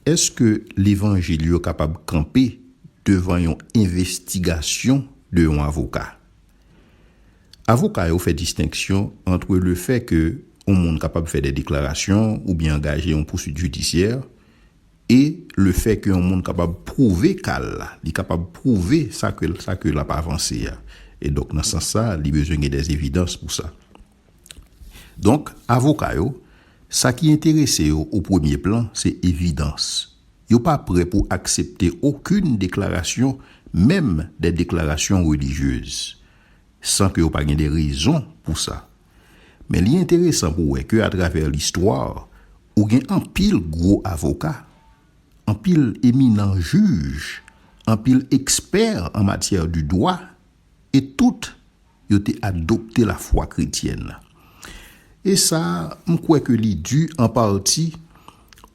Èske levanjil yo kapab kanpe devan yon envestigasyon de yon avoka? Avoka yo fè distenksyon antre lefè ke yon moun kapab fè de deklarasyon oubyen angaje yon pousuit jidisyè E le fè ke yon moun kapab pwouve ka l la, li kapab pwouve sa ke, sa ke l ap avanse a. E donk nan sans sa, li bezwen gen dè evidans pou sa. Donk, avoka yo, sa ki enterese yo o premye plan, se evidans. Yo pa prè pou aksepte okoun deklarasyon, menm dè deklarasyon relijyez, san ke yo pa gen dè rezon pou sa. Men li enteresan pou wè ke atravè listwa, ou gen anpil gwo avoka, anpil eminan jij, anpil ekspè an matyè di dwa, e tout yo te adopte lafwa kretyèn. E sa, m kwè ke li di an pati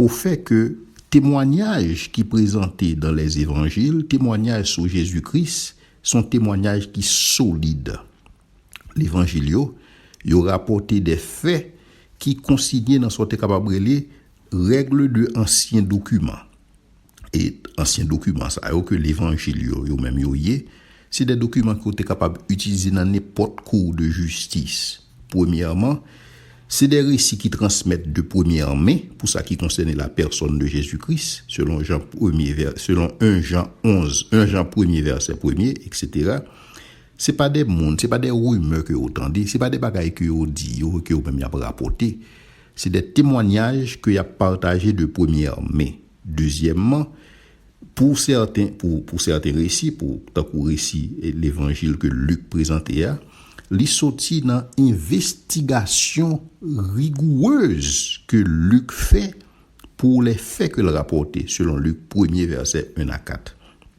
o fè ke temwanyaj ki prezante dan Lèzevanjil, temwanyaj sou Jezi Kris, s on temwanyaj ki solid. Levanjil yo, yo rapòte de fè ki konsinye nan sa w te kapab rele règle de ansyen dokiman. E ansyen dokiman sa yo ke levanjil yo yo menm yo ye, se de dokiman ke w te kapab itilize nan nenpòt kou de jistis. Premyèman, se de resi ki transmèt de premyè men pou sa ki konsène la pèsòn de Jezi Kris, selon Jan premye vè, selon 1 Jan 11, 1 Jan premye vèsè premye, eksetera. Se pa de moun, se pa de rimè ke yo tande, se pa de bagay ke yo di yo, ke yo menm yap rapote. Se de temwanyaj ke yap pataje de premyè men. Dezyèmman, pou sèten, pou, pou sèten resi, pou, tankou resi levanjil ke Lik prezante a, li soti nan envestigasyon rigourez ke Lik fè pou le fè ke l rapote, selon Lik, premye vèsè 1 a 4.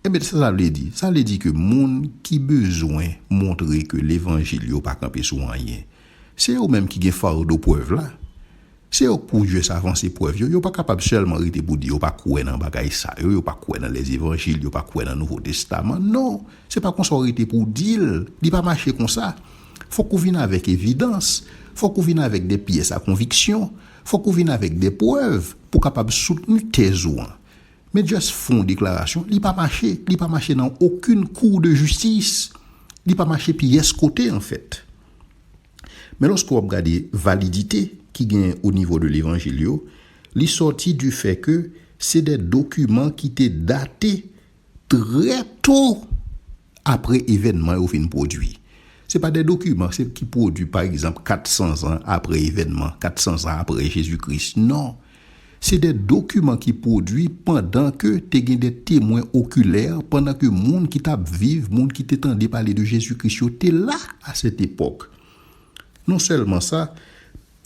Ebyen sa sa vle di? Sa vle di ke moun ki bezwen montre ke levanjil yo pa kanpe sou anyen, se yo menm ki gen fardo prèv la. Se yo k pou jès avanse prèv yo. Yo pa kapab sèlman rete pou di yo pa kwè nan bagay sa yo, yo pa kwè nan lèzevanjil, yo pa kwè nan nouvo testaman. Non, se pa konsa w rete pou w di l. Li pa mache konsa. Fòk ou vin avèk evidans. Fòk ou vin avèk de pyès a konviksyon. Fòk ou vin avèk de prèv pou w kapab soutni tèz ou an. Men just fon deklarasyon li pa mache li pa mache nan okun kou de jistis li pa mache pyès kote an fèt men loske wap gade validite ki gen o nivo de levanjil yo li sòti di fè ke se de dokiman ki te date trè to apre evènman yo fin pwodui se pa de dokiman se ki pwodui pa egzanp 400 zan apre evènman 400 zan apre jezi kris non Se de dokiman ki pwodui pandan ke te gen de temwen okilè, pandan ke moun ki tap viv, moun ki te tande pale de Jezi Kris yo te la a sèt epòk. Non sèlman sa,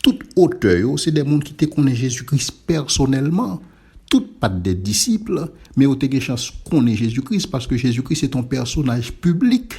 tout otè yo se de moun ki te konnen Jezi Kris pèsonèlman. Tout pat de disip, men yo te gen chans konnen Jezi Kris, paske Jezi Kris se te yon pèsonaj piblik.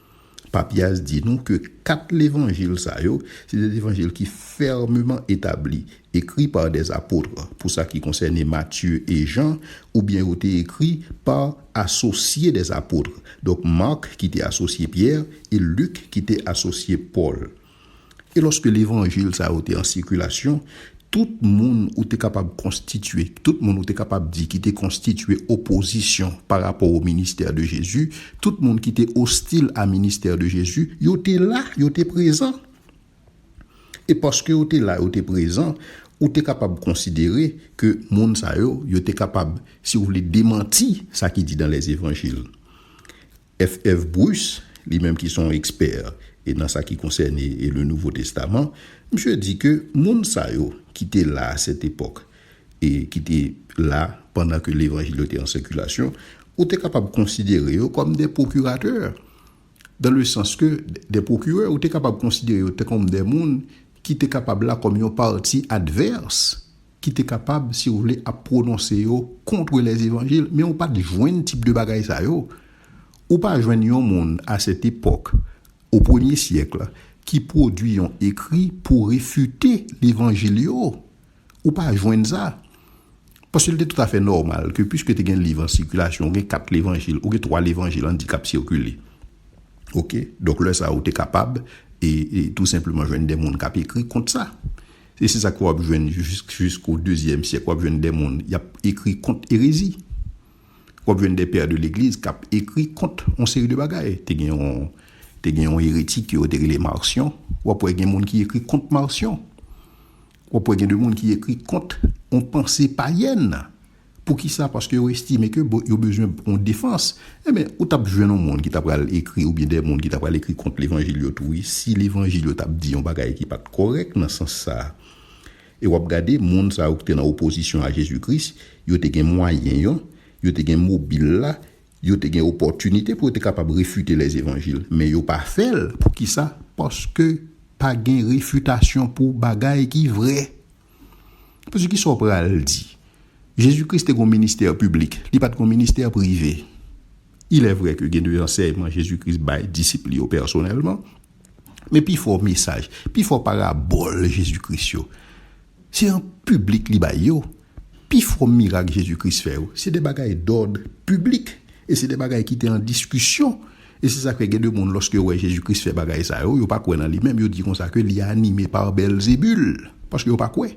Papias di nou ke kat levanjil sa yo se de levanjil ki fèmeman etabli, ekri pa des apotre, pou sa ki konsène Matye e Jan, oubyen yo te ekri pa asosye des apotre, donk Marc ki te asosye Pyè e Luc ki te asosye Pòl. E lòske levanjil sa yo te an sikilasyon, tout moun ou te kapab konstitye, tout moun ou te kapab di ki te konstitye opozisyon pa rapò o ministè de Jezi, tout moun ki te ostil a ministè de Jezi, yo te la, yo te prezan. E paske yo te la, yo te prezan, ou te kapab konsidere ke moun sa yo, yo te kapab, si w vle, demanti sa ki di dan lèzevanjil. FF. Bruce, li menm ki se yon ekspè e nan sa ki konsène e le Nouvo Testaman, misye di ke moun sa yo ki te la a sèt epòk e ki te la pandan ke levanjil yo te an sikilasyon, ou te kapab konsidere yo kòm de pwokiratè, dan le sans ke de pwokirè, ou te kapab konsidere yo te kòm de moun ki te kapab la kòm yon pati advèrs. ki te kapab si w vle ap pwononse yo kontre lèzevanjil men ou pa t jwenn tip de bagay sa yo. Ou pa jwenn yon moun a sèt epòk, o premye syèk, ki pwodui yon ekri pou refite levanjil yo. Ou pa jwenn sa. Paske l te toutafè nòmal ke piske te gen liv an sikilasyon, ou gen kat levanjil, ou gen twa levanjil an di k ap sikile. Ok, donk lè sa ou te kapab e tou senpleman jwenn de moun k ap ekri kont sa. E se sa ke w ap jwenn jisko dezyèm syèk. W ap jwenn de moun y ap ekri kont erezi. W ap jwenn de pè de legliz k ap ekri kont yon seri de bagay. Te gen yon, te gen yon eretik ke yo te rele Marcion. W ap wè gen moun ki ekri kont Marcion. W ap wè gen de moun ki ekri kont yon panse payèn. Poukisa? Paske yo estime ke bon, yo bezwen yon defans. Enben, ou t ap jwenn yon moun ki ta pral ekri oubyen de moun ki ta pral ekri kont levanjil yo tou wi. Si levanjil yo t ap di yon bagay ki pa t kòrèk nan sans sa a. E w ap gade moun sa yo ki te nan opozisyon a Jezi Kris, yo te gen mwayen yo, yo te gen mobil la, yo te gen opòtinite pou yo te kapab refite levanjil. Men yo pa fè l. Poukisa? Paske pa gen refitasyon pou bagay ki vrè. Yo pral di, Kisa w pral di? Jezi Kris te gen yon ministè piblik. Li pa t gen yon ministè prive. Ilèvre ke gen de ansèyman Jezi Kris bay disip li yo pèsonèlman, men pifò mesaj, pifò parabòl Jezi Kris yo, se an piblik li bay yo. Pifò mirak Jezi Kris fè yo, se de bagay dòd piblik e se de bagay ki te an diskisyon. E se sa k fè gen de moun lòske yo wè Jezi Kris fè bagay sa yo, yo pa kwè nan li menm, yo di konsa ke li anime pa Bèlzebul, paske yo pa kwè.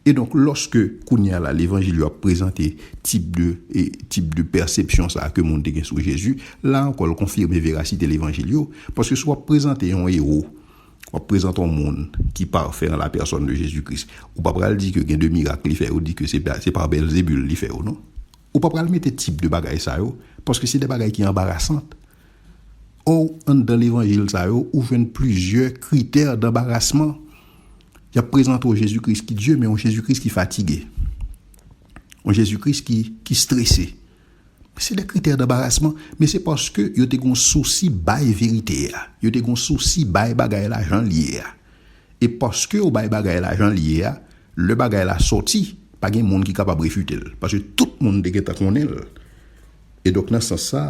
E donk lòske kounye a la levanjil yo ap prezante tip de tip de pèsepsyon sa ke moun te gen sou Jezi, la ankò l konfime verasite levanjil yo, paske si w ap prezante yon ewo, w ap prezante yon moun ki pafè an la pèsòn de Jezi Kris, ou pa pral di ke gen de mirak li fè yo di ke se pa Bèlzebul li fè yo non. Ou pa pral mete tip de bagay sa yo, paske se de bagay ki anbarasant. Or, anndan levanjil sa yo, ou jwenn plizyè kritè danbarasman. Y ap prezante w Jezi Kris ki Dye, men yon Jezi Kris ki fatige. Yon Jezi Kris ki, ki strese. Se de kritè danbarasman, men se paske yo te gen yon sousi bay verite a. Yo te gen yon sousi bay bagay la jan l ye a. E paske ou bay bagay la jan l ye a, lè bagay la sòti, pa gen moun ki kapab refite l, paske tout moun te gentan konnen l. E donk nan sans sa,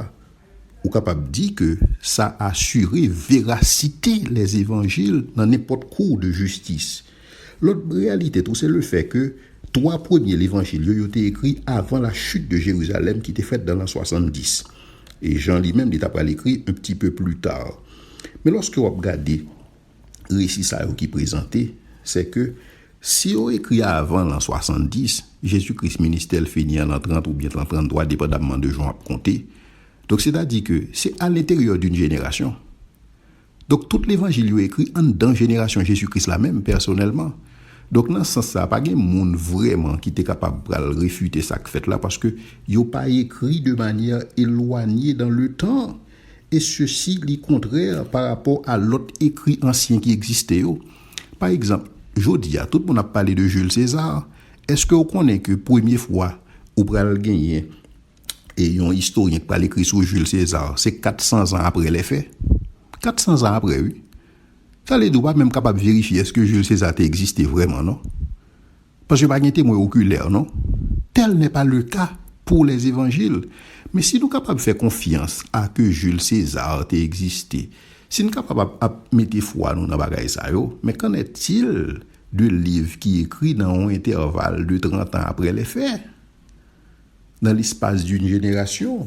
ou kapab di ke sa asire verasite lèzevanjil nan nenpòt kou de jistis. Lòt reyalite tou se lefè ke twa premye levanjil yo, yo te ekri avan la chute de Jérusalem ki te fèt dan lan 70. E Jan li menm li ta pral ekri un petit peu plus tard. Men lòske w ap gade. resi sa yo ki prezante, se ke si yo ekri avan lan 70, Jezi Kris ministè l fini an lan 30 oubyen lan 33, depandamman de jan w ap konte. Donk, setadi ke se alenteryè d'un jenerasyon. Donk, tout levanjil yo ekri anndan jenerasyon Jezi Kris la menm, pèsonèlman. Donk, nan sans sa a, pa gen moun vrèman ki te kapab pral refite sa k fèt la, paske yo pa ekri de manyè elwanye dan le tan. e sesi li kontrè pa rapò a lòt ekri ansyen ki egziste yo. Pa egzanp, jodi a, tout moun ap pale de Jules César, èske ou konnen ke premye fwa ou pral genyen e yon istoryen ki pral ekri sou Jules César, se 400 zan apre lè fè? 400 zan apre wi! Sa vle di ou pa menm kapab verifye èske Jules César te egziste vrèman non. Paske pa gen temwen okulè non. Tel nè pa le ka pou lè zevanjil. Men si nou kapab fè konfyans a ke Jil Sezar te egziste, si n kapab ap ap mete fwa nou nan bagay sa yo, men kan è til de liv ki ekri nan yon entèval de trantan apre lè fè? Nan lespas di n jenerasyon?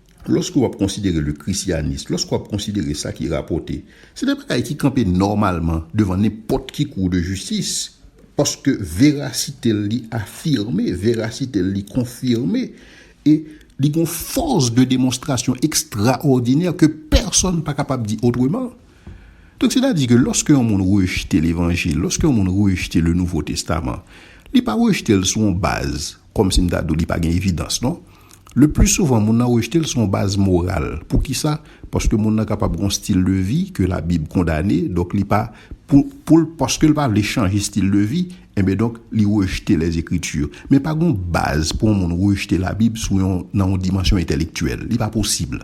Lòske w ap konsidere le Krisyanis, lòske w ap konsidere sa ki rapòte, se de bagay ki kanpe nòmalman devan nenpòt ki kou de jistis, paske verasite l li afime, verasite l li konfime, e li gen yon fòs de demonstrasyon ekstraòdinè ke pèsonn pa kapab di otreman. Donk, sètadi ke lòske yon moun rejte levanjil, lòske yon moun rejte le Nouvo Testaman, li pa rejte l sou yon baz, kòmsi m ta di w li pa gen evidans, non. Le pli souvan moun nan rejte l sou yon baz moral. Poukisa? Paske moun nan kapab gen yon stil de vi ke labib kondane, donk li pa, pou, pou l, paske l pa vle chanje stil de vi, enben donk li rejte lèzekriti. Men pa gen yon baz pou yon moun rejte labib sou yon, nan yon dimansyon entèlektyèl. Li pa posib.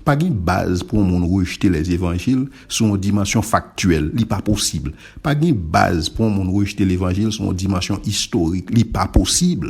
Pa gen baz pou yon moun rejte lèzevanjil sou yon dimansyon faktyèl. Li pa posib. Pa gen baz pou yon moun rejte levanjil sou yon dimansyon istorik. Li pa posib.